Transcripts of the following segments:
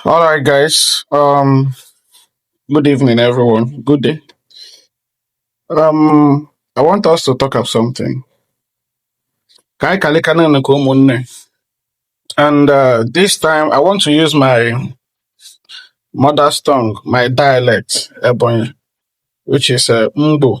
All right, guys. Um, good evening, everyone. Good day. Um, I want us to talk of something. Ka anyị kalịka naanị ka ụmụnne. And uh, this time, I want to use my mother's tongue, my dialect, Ebonyi, which is uh, Mbo.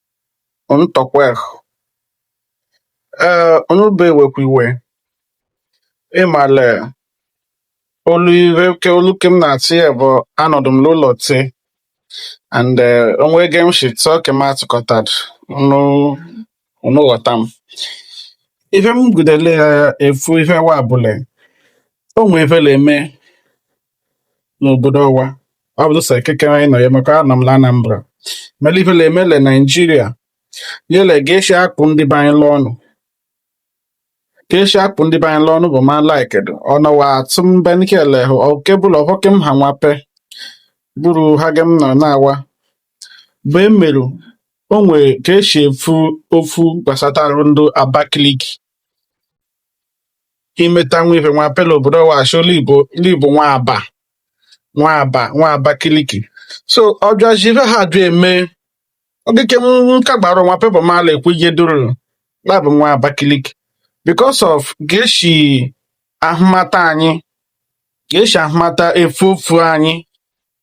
unu tọkwehụ ee unu be wekwa iwe ịmale olu ihe ke olu ke m na-atị ya bụ anọdụ m n'ụlọ te and eh, o nwe ge m shi tụọ ke m atụkọtadụ unu unu ghọta m ihe m gudele ya efu ihe wa bụ le o nwe ife le eme n'obodo ọwa ọ bụ sọ ekekere anyị nọ ya maka anọ m na Anambra mere ife na eme le Naijiria yele ga esi akpụ ndị be anyị l'ọnụ ga esi akpụ ndị be anyị l'ọnụ bụ ma like dụ ọnọwa atụ mbe nkele hụ okebụla ọhọke m ha nwape bụrụ ha ge m nọ na-awa bụ emerụ o nwere ka esi efu ofu gbasatarụ ndụ Abakaliki imeta nwa ife nwape l'obodo ọwa ashị l'ị bụ l'ị bụ nwa aba nwa aba nwa abakiliki so ọ bịazi ife ha bịa eme ogike m ka gbara nwape bụ m ala ekwu ihe duru la bụ nwa abakiliki because of ga eshi ahụmata anyị ga eshi ahụmata efu ofu anyị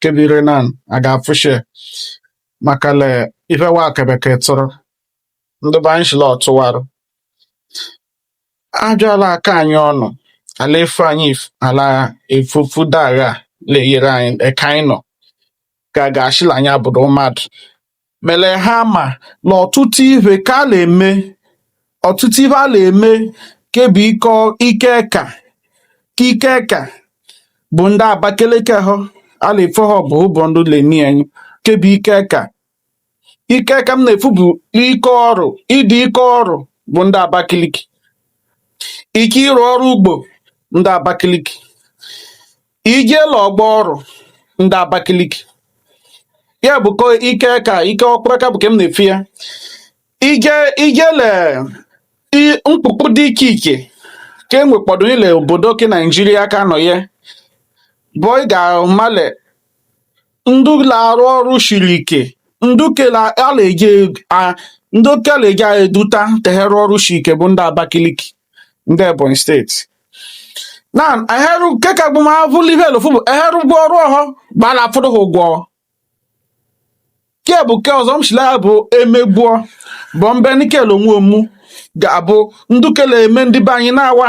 kebire na aga afụshe maka le ife wa kebeke tụrụ ndị be anyị shi la ọtụwarụ a bịa a la aka anyị ọnụ a la efu anyị a la efu ofu dagha na-eyere anyị eka anyị nọ ka ga-ashị la anyị abụdụ mmadụ mele ha ma na ọtụtụ ihe ka a na-eme ọtụtụ ihe a na-eme ke bụ ikọ ike eka ka ike eka bụ ndị Abakeleke ha a na-efe ha bụ ụbọ ndị leni anyị ke bụ ike eka ike eka m na-efu bụ ike ọrụ ịdị ike ọrụ bụ ndị Abakeleke ike ịrụ ọrụ ugbo ndị Abakeleke i je l'ọgbọ ọrụ ndị Abakaliki ya bụ ko ike eka ike ọkpụrụ eka bụ ka m na-efu ya ije i je le i- mkpụkpụ dị iche iche ka e nwekpọdụ ile obodo ke Naijiria ka anọ ya bụ ị ga-amale ndị na-arụ ọrụ siri ike ndị kere a na-eji a- ndị kere eji anyị eduta tehere ọrụ siri ike bụ ndị Abakaliki ndị Ebonyi steeti na eheru nke ka bụ ma avụli ihe elofu bụ eheru ụgwọ ọrụ ọhụ gbara afụdụ ha ụgwọ nke bụ nke ọzọ m si la ya bụ emegbuo bụ mbe nikel onwe omu ga-abụ ndu ke le eme ndị be anyị na-awa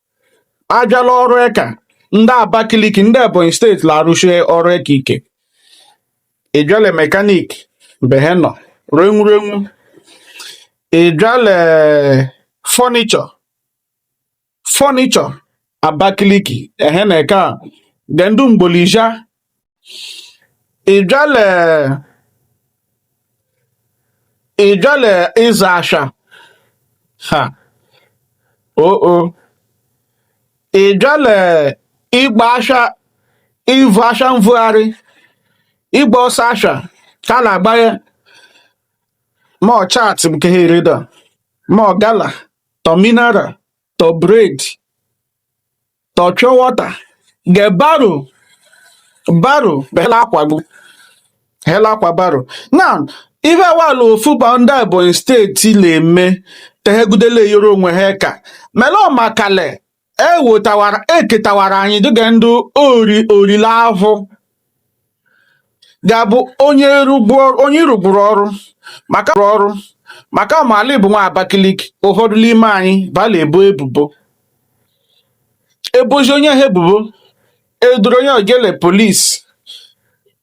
a bịa la ọrụ eka ndị abakiliki ndị ebonyi steeti la arụshi ọrụ eka ike ị bịa le mechanic be ha nọ renwurenwu ị bịa le furniture furniture abakiliki ehe na eka ge ndị Mgbolizhia ịba le ịba le ịza aswa ha o o ịba le ịgba aswa ivu aswa mvugharị ịgba ọsọ aswa ka a la-agbahe ma ọ chat nke ha ereda ma ọ gala tọ mineral tọ bread tọ pure water ge barrow barrow he la-akwa gụ he la-akwa barrow na ife awalụ ofu bụ ndị Ebonyi steeti na-eme te he gude la-eyero onwe ha eka mele ọmakale ewotawara eketawara anyị dụ ge ndị ori ori la ahụ ga-abụ onye ịrụgburu ọrụ maka ọrụ maka ọ ma la ị bụ nwa Abakaliki ụfọdụ n'ime anyị bala ebo ebubo e bozi onye ha ebubo e duru onye ogele polisi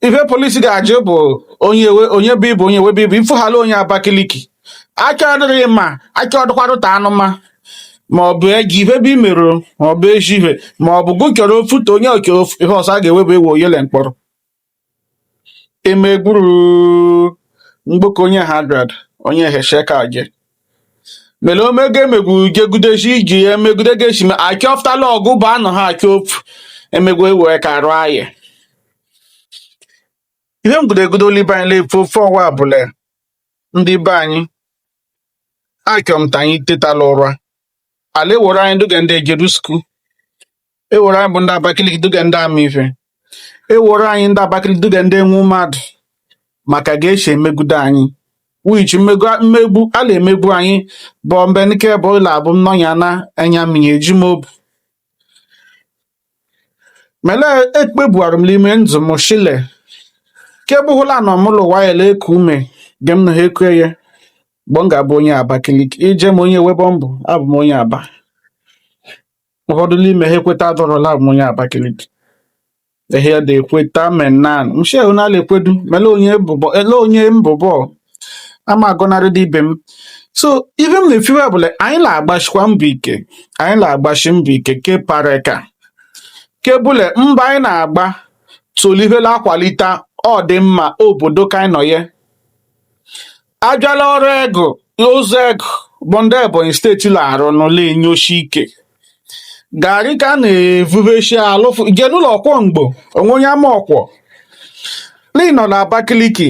ife polisi ga-ajụ bụ onye onye bụ ị bụ onye webe ị bụ ifụhala onye Abakaliki a chọọdụ ịma a chọọdụkwadụ ta anụma ma ọ bụ eji ife bụ i meru ma ọ bụ ezi ihe ma ọ bụ gụ chọrọ ofu ta onye oke ofu- ihe ọzọ a ga-ewebe ewe o ye le mkpọrọ emegburu mgboko onye hagrad onye hesheka je mere omego emegbu gegudezi iji ya emegude gesi ma a chọftala ọgụ ba anọ ha achọ ofu emegbu ewe ka arụ ayị ihe m gudegude olibe anyị na-efu ofu ọwa bụ le ndị be anyị achọ m ta anyị teta la ụra a la ewere anyị dụ ge ndị ejeru skuul ewere anyị bụ ndị Abakaliki dụ ge ndị ama ife ewere anyị ndị Abakaliki dụ ge ndị enwe mmadụ maka ge e si emegbudo anyị which mmegbu a na-emegbu anyị bụ mgbe nke bụ ụlọ abụ nnọnya na enya mmiri eji m obu mele ekpebuarụ m n'ime ndụ m shile kebụhụla nọ mụ l'ụwa ye la-eku ume ge m na ha eku eye mgbe m ga-abụ onye Abakaliki ije m onye webe m bụ abụ m onye aba ụfọdụ n'ime ha ekwetadọrọ la abụ m onye Abakaliki ehe ya da ekweta menan mshe onala ekwedu mele onye bụbọ ele onye m bụ bọ ama agọnarị de ibe m so ihe m na-efiwe bụ na anyị na-agbashikwa mbọ ike anyị na-agbashi mbọ ike ke pareka kebụle mba anyị na-agba tolihe la akwalite ọdịmma obodo ka anyị nọ ya abala ọrụ egu ụzọ egu bụ ndị Ebonyi steeti na-arụ nụ la enyoshi ike garị ka a na-evubechi alụ jee n'ụlọ ọkwọ Ngbo o nwe onye ama ọkwọ lee nọ na Abakaliki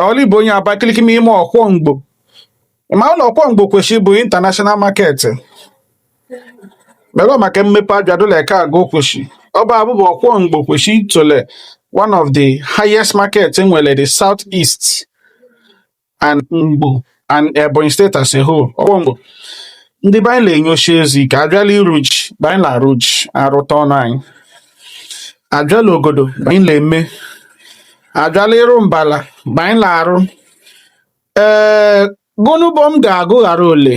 ọlụ bụ onye Abakaliki ma ime ọkwọ Ngbo ma ụlọ ọkwọ Ngbo kweshi bụ international market mego maka mmepe abịadụla eke aga okweshi ọba abụbụ ọkwọ Ngbo kweshi tole one of the highest market nwere the south east and Ngbo and Ebonyi State as a whole Ọkwọ Ngbo ndị be anyị na-enyocha ezi ka abịala ịrụ ji be anyị na-arụ ji arụta ọnụ anyị abịala ogodo be anyị na-eme abịala ịrụ mbala be anyị na-arụ ee gụnụ bọ m ga-agụ ghara ole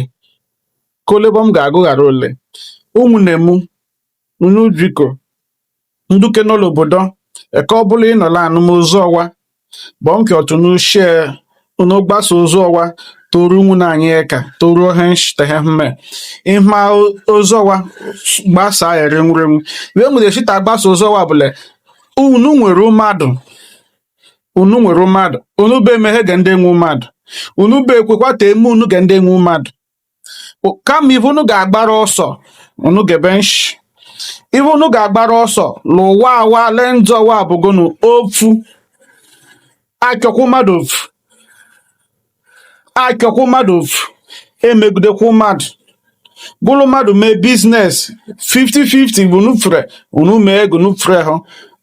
k'ole bọ m ga-agụ ghara ole ụmụnne m Unu biko ndu ke nọ l'obodo eka ọbụla ị nọ la-anụ m ozi ọwa gbọọ nke ọtụ n'ushie unu gbasa ozi ọwa toru nwunna anyị eka toru ohe nshitehe mme ịma ozi ọwa gbasa ere nwurenwu wee nwere shita gbasa ozi ọwa bụ le unu nwere mmadụ unu nwere mmadụ unu be emeghe ge ndị enwe mmadụ unu be ekwekwa ta eme unu ge ndị enwe mmadụ kama ihe unu ga-agbara ọsọ unu gebe nshi ihe unu ga-agbara ọsọ n'ụwa awa lee njọ wa bụ gụnụ ofu achọkwa mmadụ ofu achọkwa mmadụ ofu emegidekwa mmadụ gụ le mmadụ mee business 50-50 gụ unu fere unu mee gụ unu fere ha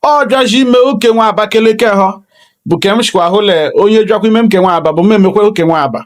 ọ bịazi ime oke nwa abakeleke ha bụ ke m shikwa hụ le onye bịakwa ime m ke nwa aba bụ m emekwa oke nwa aba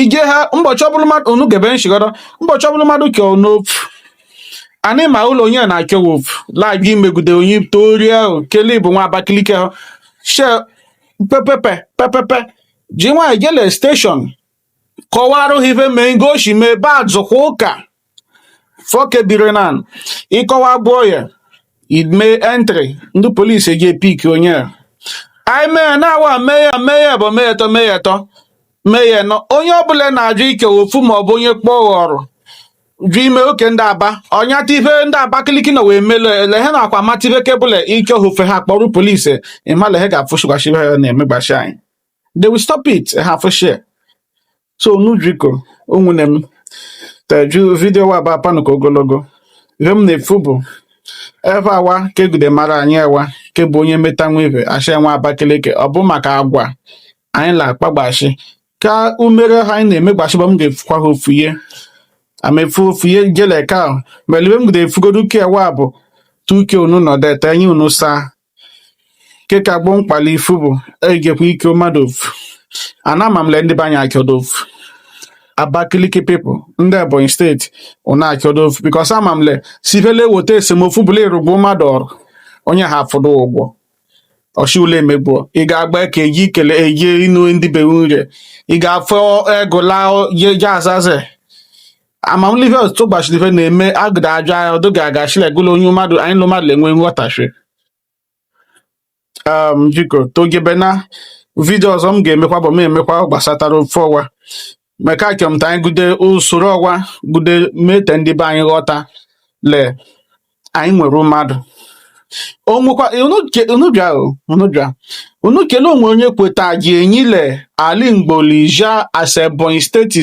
ije ha ụbọchị ọbụla mmadụ unu gebe nshi godu ụbọchị ọbụla mmadụ chọ unu ofu anị ma ụlọ onye na-achọ ofu la-abịa imegide onye torie ahụ kelee bụ nwa Abakaliki ahụ she pepepe pepepe ji nwaanyọ jee le station kọwara ha ihe mee ngosi mee baa zụkwa ụka foke biri na ịkọwa bụ oye ime entry ndị police eji epick onye a anyị mee na-awa mee ya mee ya bụ mee etọ mee ya etọ mee ya nọ onye ọbụla na-ajụ ike ofu ma ọ bụ onye kpọọ ghọrọ jụ ime oke ndị aba ọnyata ihe ndị abakiliki na wee melo lehe na akwa mata ihe kebụla ike ofufe ha kpọrọ police ịma lehe ga-afụshi agwa shi ha na-emegbashi anyị they will stop it ha afụshie so unu biko ụmụnne m teju video wa bụ apanụ ka ogologo ihe m na-efu bụ ebe awa ka egude mara anyị ewa ke bụ onye meta nwa ihe a shị nwa abakeleke ọ bụ maka agwa anyị na-akpagbashi ka umere ha anyị na-emegbashi bụ m ga-efukwa ha ofu ya a m efu ofu ya jele ka mele ihe m ga-efugodu ke wa bụ tuke unu nọdete enyi unu saa ke ka gbọ mkpali ifu bụ eyi ke kwu ike mmadụ ofu and ama m le ndị be anyị achọdụ ofu Abakaliki people ndị Ebonyi steeti unu achọdụ ofu because ama m le sivele weta esemokwu bụ le ịrụgbu mmadụ ọrụ onye ha afụdụ ụgwọ ọchị ule emegbuo ị ga-agba aka eji ikele eji inu ndị be nwunye ị ga-afọ egụla jeje azaze ama m le ife ọtụtụ gbachiri ife na-eme agụda ajọ agha ọdụ ga-aga shilegolo onye mmadụ anyị lụ mmadụ enwe nghọtachi um biko togebe na vidio ọzọ m ga-emekwa bụ m emekwa gbasatara ofe ọwa meka kemta anyị gude usoro ọwa gude mete ndị be anyị ghọta le anyị nwere mmadụ onwekwa unu bịa unu bịa unu kele onwe onye kweta ji enyile ali mgbolija as Ebonyi steeti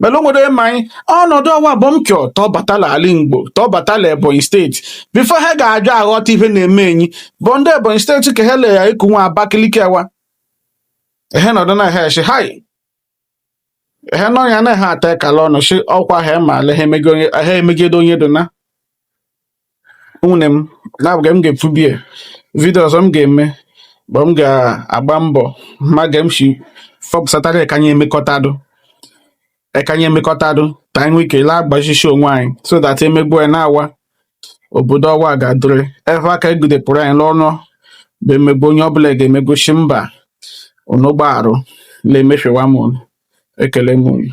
mana o nwere ma anyị ọnọdụ ọwa bụ m chọ tọ bata la alị Igbo tọ bata la Ebonyi steeti before ha ga-abịa aghọta ife na-eme anyị bụ ndị Ebonyi steeti ka ha le eku nwa Abakaliki awa ehe nọdụ na ha eshi hai ehe nọ ya na ha ata ekala ọnụ shi ọkwa ha ma ala ha emegide onye dona unwunne m na bụ ge m ga-ekwubie vidio ọzọ m ga-eme bụ m ga-agba mbọ ma ge m shi fọpụsatara ekanye emekọtadụ ekanye emekọtadụ ka anyị nwee ike laa agbachisi onwe anyị so that emegbu anyị na-awa obodo ọwa ga-adịrị ebe aka egudepụrụ anyị n'ọnụ bụ emegbu onye ọbụla ga-emegbu shi mba unu gbaarụ na-emefewa m unu ekele m unu